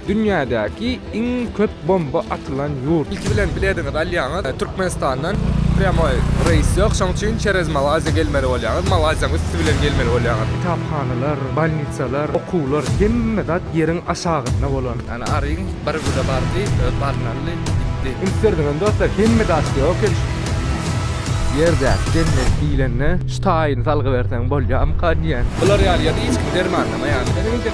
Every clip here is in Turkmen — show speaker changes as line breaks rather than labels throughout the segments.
Dünýädäki iň köp bomba atylan ýurt. Ilki bilen bilediňizi alýaňyz, Türkmenistandan prýamoý reýs ýok, şoň üçin çerez Malaýziýa gelmeli bolýaňyz, Malaýziýanyň üsti bilen gelmeli bolýaňyz. Kitaphanalar, bolnitsalar, okuwlar, hemme zat ýeriň aşagynda bolan. Ýani aryň bir güne bardy, öz baryny aldy, gitdi. Üns berdiňizmi dostlar, hemme zat ýok ekeni. Ýerdäki jennet diýlende şu taýyny salgyberseň bolýarmyka diýýän. Bular ýaly ýerde hiç kim dermanlamaýarmyka.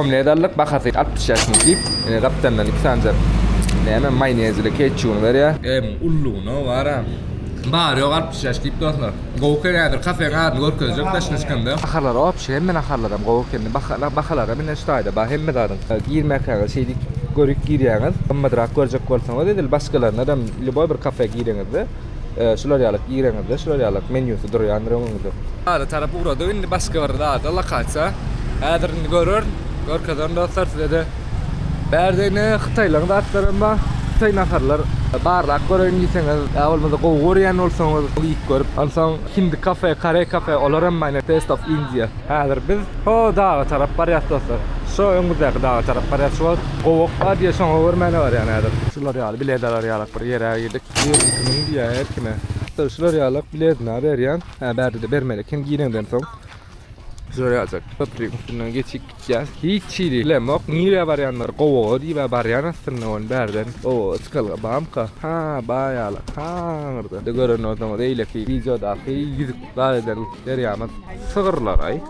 Omledalyk bahasy altmyş bäş funt diýip, gapdandan iki sanja näme maýnezli ketçubyny berýär. Emm, ullugyna baram. Bary ýogy altmyş bäş diýip dostlar. Gowy eken häzir kafeň adyny görkezjek daşyna çykanda. Bahalar wobşe hemme naharlaram gowy eken. Bahalara mine ştaýda bar hemme zadyň. Girmäkäňiz şeýdip görip girýäňiz. Gymmadrak görjek bolsaňyz edil başgalaryndanam lýuboý bir kafe gireňizde. Şular ýaly gireňizde şular ýaly menýusy durýandyr öňüňizde. Ada tarap ugradyk indi başga bir zada lokasiýa. Häzir indi görerin, görkezerin dostlar sizede. Bärde ine hytaýlaryň zatlaram bar. Hytaý naharlar barlap göreýin diýseňiz, ýa bolmasa gowy görýän bolsaňyz iýip görüp. Onsoň hindi kafe, koreý kafe olaram bar ine Taste of India. Häzir biz ho daga tarap barýas dostlar. Şo öňümizdäki daga tarap barýas şu wagt. Gowak bar diýýär şoňa görmäne barýan häzir. Şular ýaly biledalar ýalak. Bir ýere girdik. Girdim kimin diýýär her kime. Dur şular ýalak biletini berýän. Hä bärde-de bermeli eken gireňden soň. Şular ýaljak köprüň üstünden geçip gitýäs. Hiç hili bilemok. Nirä barýandyr? Gowaga diýibä barýan aslynda ony bärden. Gowaga çykalga bamyka? Hä bar ýalak. Hä aňyrda. Indi gören bolsaňyz eýleki wideodaky ýüzük baýdan berýämiz sygyrlaraý.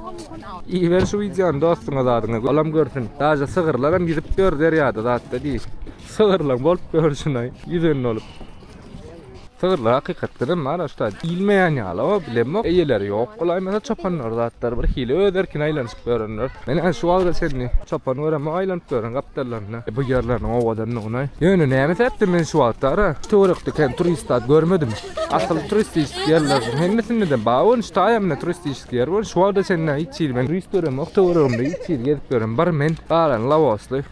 Iber şu wideony dostuňa zadyňa olam görsün. Daže sygyrlaram ýüzük ýör derýada zatda diý. Sygyrlaň bolup görşünaý ýüzen bolup. Sygyrlar hakykatdan hem bar ussat iýilmeýän ýaly o bilemok eýeleri ýok bolaýmasa çopanlar zatlar bir hili öz erkine aýlanyşyp ýörenler men şu wagta çenli çopan göremok aýlanyp ýören gapdallaryny bu ýerleriniň owadanlygyna ýöne näme sebäpden men şu wagta ara töwerekde kem turist zat görmedim asyl turistik ýerleriň hemmesinde bar bolmuş taýamyna turistik ýer bar şu wagta çenli hiç hili men turist göremok töweregimde hiç hili gezip ýören bir men galan lawosly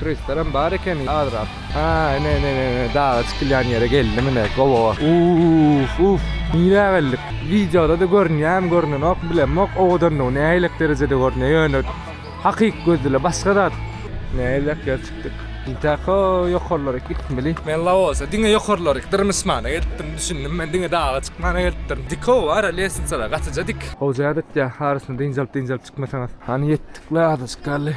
Turistlerem bar eken azrak. Haa ine ine ine daga çykylýan ýere geldim ine gowo. Uuff uuff nirä geldik wideodada görünýämi görnenok bilemok owadanlygy nähilek derejede görünýär ýöne hakyky gözle başga zat. Nähilek ýere çykdyk. Intako ýokarlaryk gitmeli. Men Laosa diňe ýokarlaryk dyrmyşmana gelipdim düşündim men diňe daga çykmana gelipdirin dikow ara lesnisalar gatyja dik. Goja ýa-da etýär arasyny dynjalyp dynjalyp çykmasaňyz. Hany ýetdik la azajyk galdy.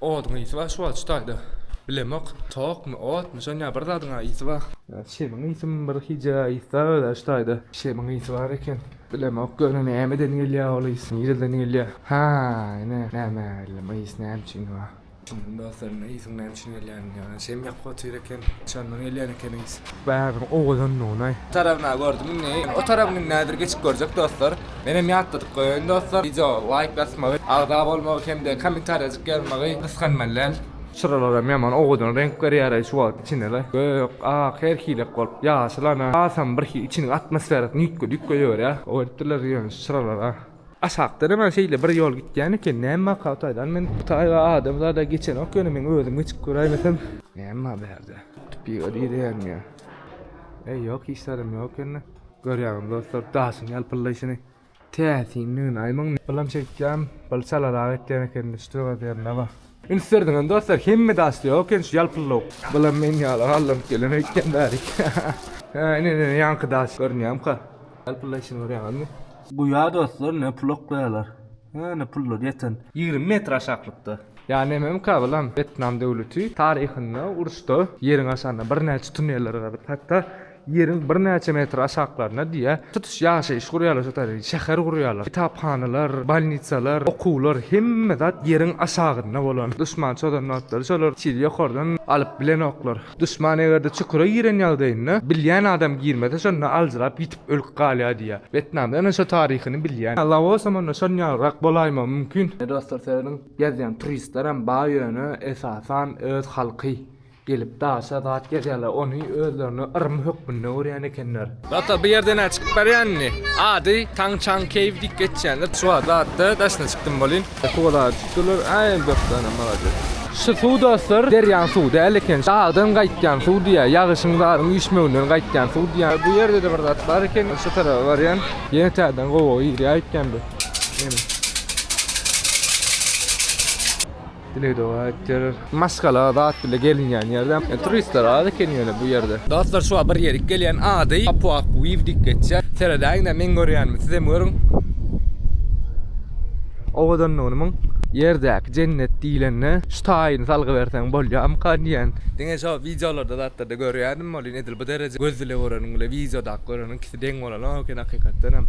Oduň ysy bar şu wagt şu taýda. Bilemok tokmy otmy şoň ýa bir zadyňa ysy bar. Şemiň ysymyň bir hije ysda özä şu taýda. Şemiň ysy bar eken. Bilemok göni nämeden gelýä ol ys nireden gelýä. Ha ine nämä bildim ys näme üçin bar. Düşündim dostlar indi ysyň näme üçin gelýänini ýöne şem ýakyp otyr eken şondan gelýän eken ys. Bägiriň owadandygyny. Tarabyna gördüm indi o tarabyny indi häzir geçip görjek dostlar. Menem ýatladyp goýaýyn dostlar. Wideo laýk basmagy, agza bolmagy hem-de kommentariýajyk ýazmagy gysganmalyň. Çyralaram ýaman owadan reňk berýäraý şu wagt içinede. Gök, ak her hilek bolup ýaşyl ana. Hasam bir hil içiniň atmosferasy nüýtge-düýtge ýörýär. Oýtdylar ýöne şu çyralara. Aşakdan hemen şeýle bir ýol gitýän eken. Näme maksat aýdan men bu taýda adam zada geçenok ýöne meň özüm geçip göräýmesem. Näme bar bu ýerde? Piga diýýän ýa. Eý ýok hiç zadam ýok ýöne. Görýäňiz dostlar daşyň ýalpyldaýşyny täsinligini aýman bilen çekýän bir çalarak etýän eken düşdi öz ýerine bax. Üns berdiňizmi dostlar hemme daşda ýok eken şu ýalpyldawuk. Bulam meň ýaly galdyrnyp gelen öýtýän bärik. Hä ine ine ýaňky daş görünýämka ýalpyldaýşyny görýäňizmi. Guýa dostlar ne pulak gaýalar. Hä ne pullar ýeten. Ýigrimi metr aşaklykda. Ýa nememka bulam wetnam döwleti taryhynda uruşda ýeriň aşagynda birnäçe tuneller gazyp hatda Ýeriň birnäçe metr aşaklarynda diýe, tutuş ýaşaýyş gurýarlar, şo taýdan şäher gurýarlar. Kitaphanalar, bolnitsalar, okuwlar, hemme zat ýeriň aşagynda bolan. Duşman çozan wagtlary şolar şeýle ýokardan alyp bilenoklar. Duşman eger-de çukura giren ýagdaýynda, bilýän adam girmese, şonda aljyrap ýitip ölüp galýar diýe. Wetnamda ýöne şo taryhyny bilýän. Laosam onda şon ýalyrak bolaýmagy mümkin. Dostlar, serediň, gezýän turistlerem bar ýöne esasan öz halky. Gelip daşa zat ýazýarlar ony özlerine yrym hökmünde görýän ekenler. Ata bu ýerde nä çykyp barýan indi. Ady Taň Çaň Keýw diýip geçýändir çuwa zatda daşyna çykdym bolýn. Suwalary tutdylar äý dostana malades. Şu suw dostlar derýaň suwy däl eken dagdan gaýtýan suw diýýär ýagyşyň zaryň üýşmeginden gaýtýan suw diýýär. Bu ýerdede bir zat bar eken şu tarapa barýan ýene täzeden gowaga girýär eken bu. Dile doga etdiler. Maşgala zat bile gelinýän ýerde. Turistler az eken ýöne bu ýerde. Dostlar şuwa bir ýerik gelýän ady Apuakuiw diýip geçýär. Seredäýiňdä meň görýänimi sizem görüň. Owadanlygyny muň. Ýerdäki jennet diýlende şu taýyny salgy berseň bolýamykan diýýän. Diňe şo wideolarda zatlarda görýädim welin edil bu dereje göz bile göreniň bile wideodaky göreniň ikisi deň bolanok eken hakykatdanam.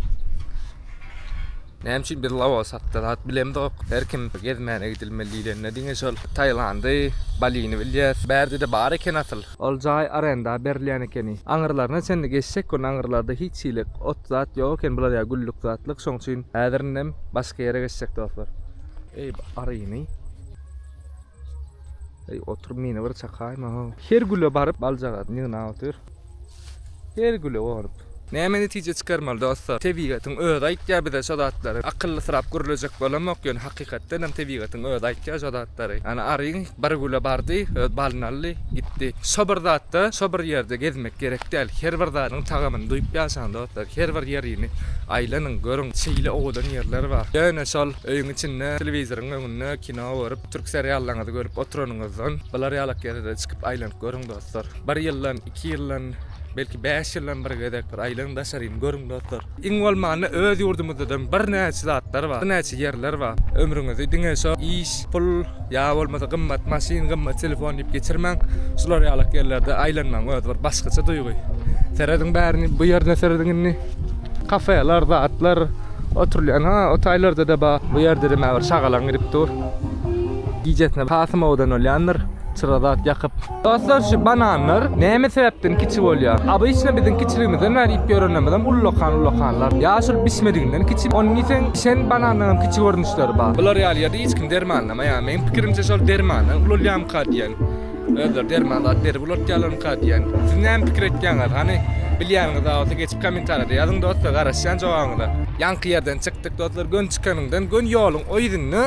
Näme üçin biz Laos hakda zat bilemzok? Her kim gezmäne gidilmeli diýlende diňe şol Tailandy, Balini bilýäs. Bärde-de bar eken asyl. Ol jaý arenda berilýän ekeni. Aňyrlaryna çenli geçjek gün aňyrlarda hiç hili ot zat ýok eken bular ýa güllük zatlyk şoň üçin häzir indem başga ýere geçjek dostlar. Eý aryny. Eý otur meni bir çakaýma ho. Her güle baryp baljagaz ýygnap otyr. Her güle onup. Näme netije çykarmaly dostlar? Tebigatyň özi aýtýar bize şo zatlary. Akyllysyrap gürlejek bolamok, ýöne hakykatdanam tebigatyň özi aýtýar şo zatlary. Ýani aryň bir güle bardy, öz balyny aldy, gitdi. Şo bir zatda, şo bir ýerde gezmek gerek däl. Her bir zadyň tagamyny duýup ýaşaň dostlar. Her bir ýerini aýlanyň, görüň. Şeýle owadan ýerler bar. Ýöne şol öýüň içinde, telewizoryň öňünde kino görüp. Türk seriallaryňyzy görüp oturanyňyzdan bular ýalak ýerde çykyp aýlanyp görüň dostlar. Bir ýyldan, iki ýyldan, belki bäş ýyldan bir gezek bir aýlanyň daşaryny görüň dostlar. Iň bolmanda öz ýurdumyzdadan birnäçe zatlar bar, birnäçe ýerler bar. Ömrüňizi diňe şo iş, pul ýa bolmasa gymmat maşyn, gymmat telefon diýip geçirmäň. Şular ýalak ýerlerde aýlanmagyň özi bir başgaça duýgy. Serediň bärini, bu ýerine serediň indi. Kafeler, zatlar. Oturylýan ha o taýlarda-da bar. Bu ýerde diýme bir şagalaň girip dur. Gijesine has moda bolýandyr. Çyra zat ýakyp. Dostlar şu bananlar näme sebäpden kiçi bolýar? Obyçny biziň kiçiligimizden bäri iýip ýörenimizem ullakan ullakanlar. Ýa şol bişmediginden kiçi. Ony iýseň bişen banandan hem kiçi görnüşleri bar. Bular ýaly ýerde hiç kim dermanlamaýar. Meň pikirimçe şol dermana ulalýarmyka diýen. Özleri derman zat berip ulatýarlarmyka diýen. Siz näme pikir etýäňiz? Hany, bilýäniňiz bar bolsa geçip kommentariýada ýazyň dostlar, garaşýan jogabyňyza. Ýaňky ýerden çykdyk dostlar, göni çykanyňdan göni ýoluň o ýüzünde.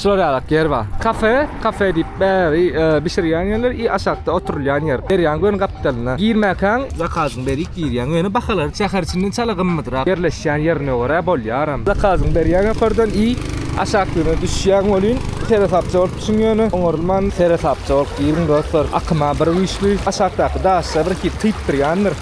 Şular ýalak ýer bar. Kafe, kafe diýip bäri bişirýän ýerler i aşakda oturylýan ýer. Derýaň göni gapdalynda. Girmäkäň zakazyňy berip girýäň. Ýöne bahalary şäher içinden çala gymmydrak. Ýerleşýän ýerine görä bolýaram. Zakazyňy berýäň ýokardan i aşaklygyna düşýäň welin seresapja bolup Çuň ýöne oňarylman seresapja bolup giriň dostlar akyma bir güýçli aşakdaky daşlar bir hili tyýyp durýandyr.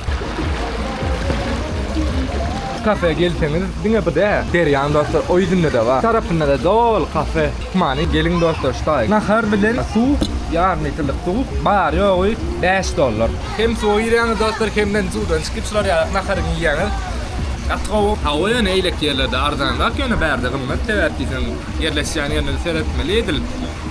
Kafe gelseňiz diňe bu däl derýaň dostlar o ýüzündede bar tarapyndada doly kafe many geliň dostlar şu taýy nahar bilen suw ýarym litrlik suw bary ýogy bäş dollar hem suwa girýäňiz dostlar hemden suwdan çykyp şular ýaly naharyňy iýýäňiz gaty gowy hawa ýöne eýleki ýerlerde arzanrak ýöne bärde gymmat sebäp diýseň. Ýerleşýän ýerine-de seretmeli edil.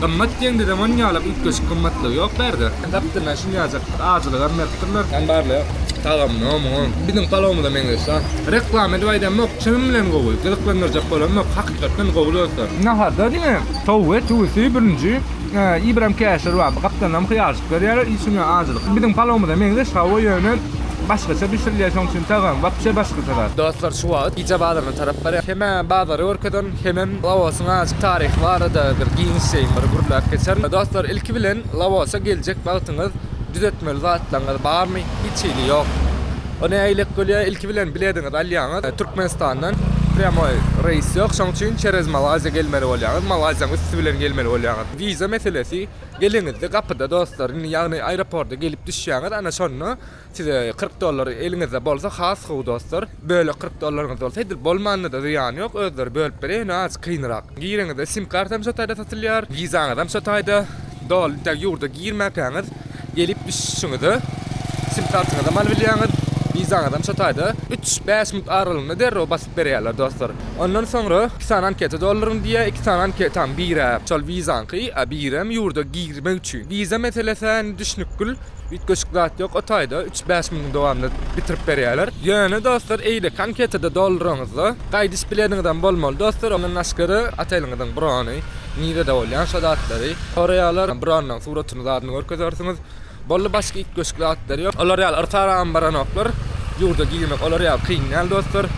Gymmat diýen de zaman ýalap üýtgeşik gymmatlygy ýok bärde. Gapdyndan şinýajak bir ajylygam beripdirler. Jan barly tagamyna muňa biziň palawymyza meňzeşdä. Reklama edip aýdamok, çynym bilen gowy, gyzyklandyrjak bolamok, hakykatdan gowy dostlar. Naharda diňe towgy, tüwüsi, bürünji, ibram käşir bar. Gapdanam hyýalçyk berýärler, içine ajylyk. Biziň palawymyza meňzeş hawa ýöne başgaça bişirilýär şoň üçin tagamy wapşe başgaça zat. Dostlar şu wagyt gije bazaryna tarap barýan. Hemä bazary görkezen. Hemem Laosyň azajyk taryhy barada bir giňişleýin bir gürläp geçerin. Dostlar, ilki bilen Laosa geljek wagtyňyz düzetmeli zatlaryňyz barmy? Hiç hili ýok. O nähilek bolýar? Ilki bilen bilediňizi alýaňyz. Türkmenistandan prýamoý reýs ýok. Şonuň üçin çerez Malaýziýa gelmeli bolýaňyz. Malaýziýanyň üsti bilen gelmeli bolýaňyz. Wiza meselesi geleňizde gapyda dostlar. Indi ýagny aeroporta gelip düşýäňiz, ana şonda Size kyrk dollar eliňizde bolsa has gowy dostlar. Bölek kyrk dollaryňyz bolsa edil bolmanyna-da zyýany ýok, özleri bölüp berer ýöne azjyk kynrak. Gireňizde sim kartam şo taýda satylýar, wizaňyzam şo taýda, doly tä ýurda girmäkäňiz gelip düşüşiňize sim kartyňyzam alybilýäňiz, wizaňyzam şo taýda üç, bäş minut aralygynda derrew basyp berýärler dostlar. Ondan soňra iki sany anketa dolduryň diýýär, iki sany anketaň biri-ä şol wizaňky, a birem ýurda girmek üçin. Wiza meselesi-ä indi düşnükgil. Üýtgeşik zat ýok o taýda, üç-bäş günüň dowamynda bitirip berýärler. Ýöne dostlar eýleki anketede dolduraňyzda gaýdyş bilediňizem bolmaly dostlar ondan başgada oteliňiziň brony, nirede bolýan şo zatlary soraýarlar, bronnyň suratyny zadyny görkezersiňiz. Boldy başga üýtgeşik zatlar ýok. Olar ýaly yrsaram baranoklar. Ýurda girmek olar ýaly kyn däl dostlar.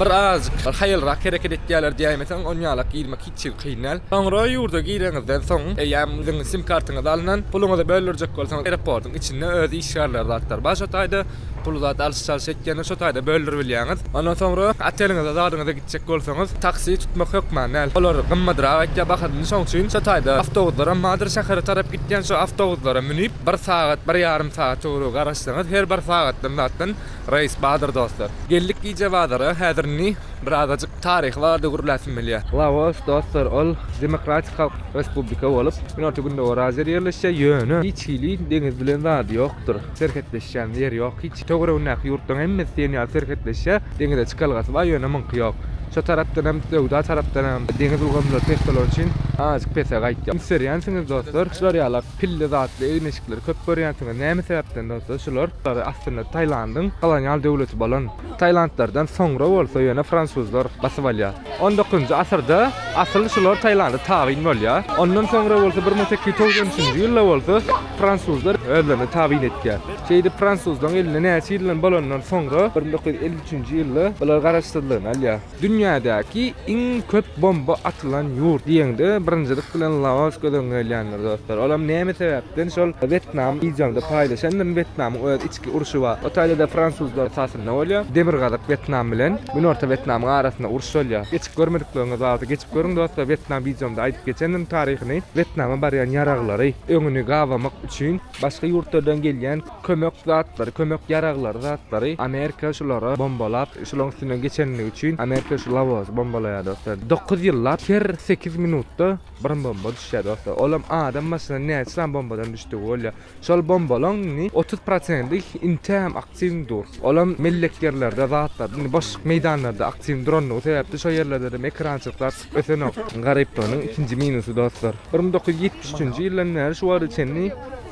Bir azajyk haýalrak hereket etýärler diýäýmeseň onýalak girmek Çig kynal. Soňra ýurda gireňizden soň, eýýäm siziň sim kartyňyzy alnan, puluňyzy böldürjek bolsaňyz eroportyň içinde öz işgärleri zatlar bar şo taýda pul zat alyş çalyş etýänler şo taýda böldürip bilýäňiz. Ondan soňra oteliňize zadyňyza gitjek bolsaňyz taksi tutmak hökman däl. Olar gymmadrak aýtýar bahasyny şoň üçin şo taýda awtobuslarym bardyr şähere tarap gitýän şo awtobuslara münip bir sagat bir ýarym sagat töweregi garaşsaňyz her bir sagatdan zatdan Reis badyr dostlar. Geldik gije bazara häzir indi birazajyk taryhy barada gürläsim gelýä. Laos dostlar ol demokratik halk respublika bolup Günorta Gündogar Aziýada ýerleşýär ýöne hiç hili deňiz bilen zady ýokdur serhetleşýän ýeri ýok hiç töweregindäki ýurtlaryň hemmesi diýen ýaly serhetleşýär deňize çykalgasy bar ýöne muňky ýok şo tarapdan hem söwda tarapdan hem deňiz ulgamlary pes bolany üçin azajyk pese gaýtýar. Üns berýänsiňiz dostlar. Şular ýalak. Pille zatly egin-eşikleri köp görýänsiňiz. Näme sebäpden bolsa şular? Şulary aslynda Tailandyň kolonial döwleti bolan Tailandlardan soňra bolsa ýöne fransuzlar basyp alýar. On dokuzynjy asyrda asyl şular Tailanda tabyn bolýar. Ondan soňra bolsa bir müň sekiz ýüz togsan üçünji ýylda bolsa fransuzlar özlerine tabyn etýär. Şeýdip fransuzlaryň elinde näçe ýyldan bolandan soňra bir müň dokuz ýüz elli üçünji ýylda bular garaşsyzlygyny alýar. Dünýädäki iň köp bomba atylan ýurt diýeňde birinjilik bilen Laos göz öňüňe gelýändir dostlar. Olam näme sebäpden şol Wetnam wideoňda paýlaşandym Wetnamyň öz içki urşy bar. O taýda-da fransuzlar esasynda bolýar. Demirgazyk Wetnam bilen Günorta Wetnamyň arasynda uruş bolýar. Geçip görmedikleriňiz bar bolsa geçip görüň dostlar Wetnam wideomda aýdyp geçendim taryhyny. Wetnama barýan ýaraglary öňüni gabamyk üçin başga ýurtlardan gelýän. Kömek zatlary, kömek ýaraglary, zatlary Amerika şulara bombalap, şulaň üstünden geçenligi üçin Amerika şu lawozy bombalaýar dostlar. Dokuz ýyllap her sekiz minutda bir bomba düşýär dostlar. Olam adam başyna näçe sany bombadan düşdügi bolýar. Şol bombalaň indi otuz prosenti intäm aktiw dur. Olam mellek ýerlerde zatlar, indi boşluk meýdanlarda aktiw duranlygy sebäpli şo ýerlerde hem ekrançyklar Ötenok, garyplygynyň ikinji minusy dostlar. Bir müň dokuz ýüz ýetmiş üçünji ýyldan bäri şu wagta çenli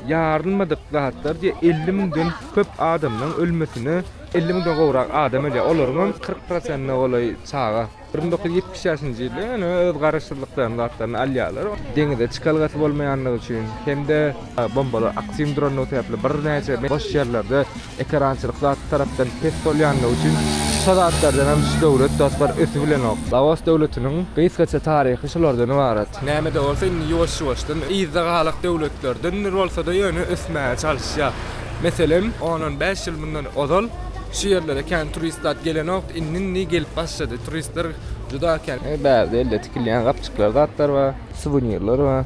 ýarylmadyk zatlar diýe elli müňden köp adamlaň ölmesine, elli müňden gowrak adam ölýär, olaryňam kyrk prosentine golaý çaga. Bir müň dokuz ýüz ýetmiş bäşinji ýylda ýöne öz garaşsyzlyklarynyň zatlaryny alýarlar. Deňize çykalgasy bolmaýanlygy üçin hem-de bombalar aktiwm duranlygy sebäpli birnäçe boş ýerlerde Ekerançylyk zat tarapdan pes bolýandygy üçin şu zatlardan hem şu döwlet dostlar ösüp bilenok. Laos döwletiniň gysgaça taryhy şulardan ybarat. Näme-de bolsa indi ýuwaş-ýuwaşdan yzda galak döwletlerdendir bolsa-da ýöne ösmäge çalyşýar. Meselem, on-on bäş ýyl mundan ozal şu ýerlere kän turist zat gelenokdy, indi-indi gelip başlady. Turistler juda kän. Bärde elde tikilýän gapjyklar zatlar bar, suwenirler bar.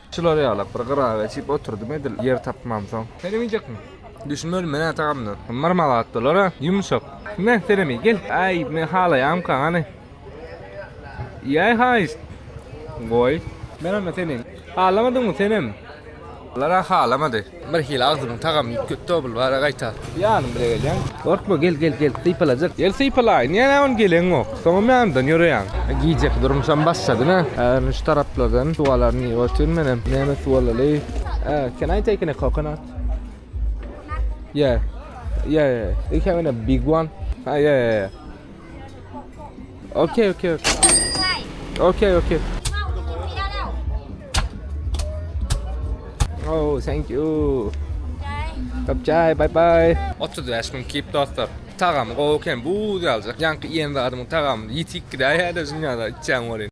Çylar ýalap, bir gyra geçip oturdym edil, ýer tapmamsoň. Sen iýjekmi? Düşünmedim men-ä tagamdan. Marmal atdylar-a, ýumşak. Hme, senem iý, gel. Äý, men halaýamyka, hany? Iýäý, haýyşt. Goý. Menem-ä seniň. Halamadyňmy senem? Olar-a halamady. Bir hili agzymyň tagamy gitdi obl bara gaýta. Ýanym bile gelýäň. Gorkma gel gel gel sypalajak. Gel sypalaýyn diýen hä ony geleň gok. Soňam ýanymdan ýöreýäň. Gijeki durmuşam başlady nä. Ärini şu taraplardan suw alaryn diýip otyryn menem. Näme suw alaly? Can I take in a coconut? Coconut? Yeah. Yeah yeah yeah. They have in a big one. Ha yeah yeah yeah. Okey, okey, okey. Okey, okey. Oh, thank you. Kapçay, bye bye. 35 mün kip dostlar. Tagam gowy eken, bu ýaljak. Ýaňky iýen zadymyň tagamyny ýetik gidäýýär-de dünýäde içýän bolýan.